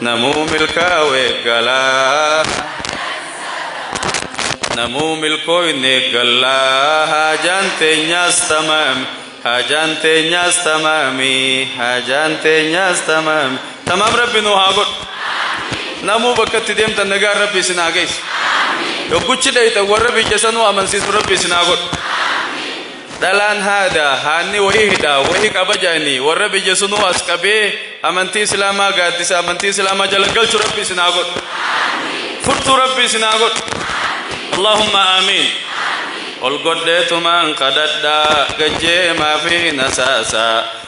Namuu milkaawe galaa. Namuu milkooyne galaa haajaan teenyaas tamaami haajaan teenyaas tamaami haajaan teenyaas tamaami tamaam rabbi nuu haa godhu namuu bakka itti deemtan nagaan rabbi isin haa geessu yogguchi dheeyxan warra biyya sanuu amansiisu rabbi isin haa godhu Dhalaan haada, haanni wohi hidha, wohi qaba ja'anii worra biyya sunuu as qabee amantii Islaamaa gaaddisa amantii Islaamaa jala galchu Rabbi isin haa godhu. Furtuu Rabbi isin haa godhu. Allaahumma aamiin. Ol godheetumaan kadhadha gajjeemaa fi nasaasaa.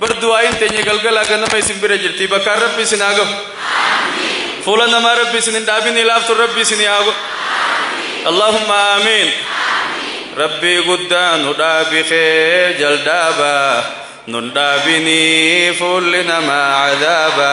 Bar du'aa'iin teenya galgalaa ganama isin bira jirti bakkaan rabbi isin haa gahu fuula namaa rabbi isin hin dhaabinii laaftuun rabbi isinii haa godhu Allahumma aamiin rabbii guddaa nu dhaabi kee jaldaaba nun dhaabinii fuulli namaa cadaaba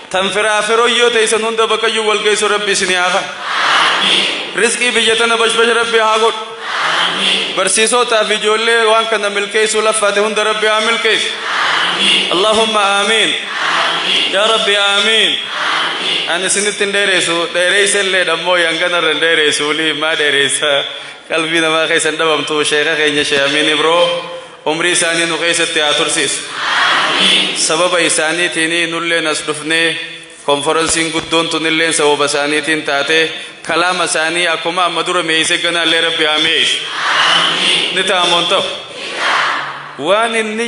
Tan firaa firoyyoo teeysan hunda bakkayyuu wal geessu rabbi isinii haa kan. Rizqii biyya tana bashbasha rabbi haa godhu. Barsiisootaa fi ijoollee waan kana milkeessuu laffaate hunda rabbi haa milkeessu. Allahumma aamiin. Yaa rabbi aamiin. Ani isinitti hin dheereessu dheereessa illee dhammoo yangana irra hin dheereessu waliif maa dheereessa qalbii namaa keessa hin dhabamtu sheeka keenya shee amiin ibroo. Umrii isaanii nu keessatti haa tursiisu. Sababa isaaniitiin nulleen as dhufnee, konforansiin guddoon tunilleen sababa isaaniitiin taatee, kalaama isaanii akkuma amma dura mi'eessee ganaallee Rabbi haa mi'eessu. Ni ta'a moo hin ta'u? Waan inni.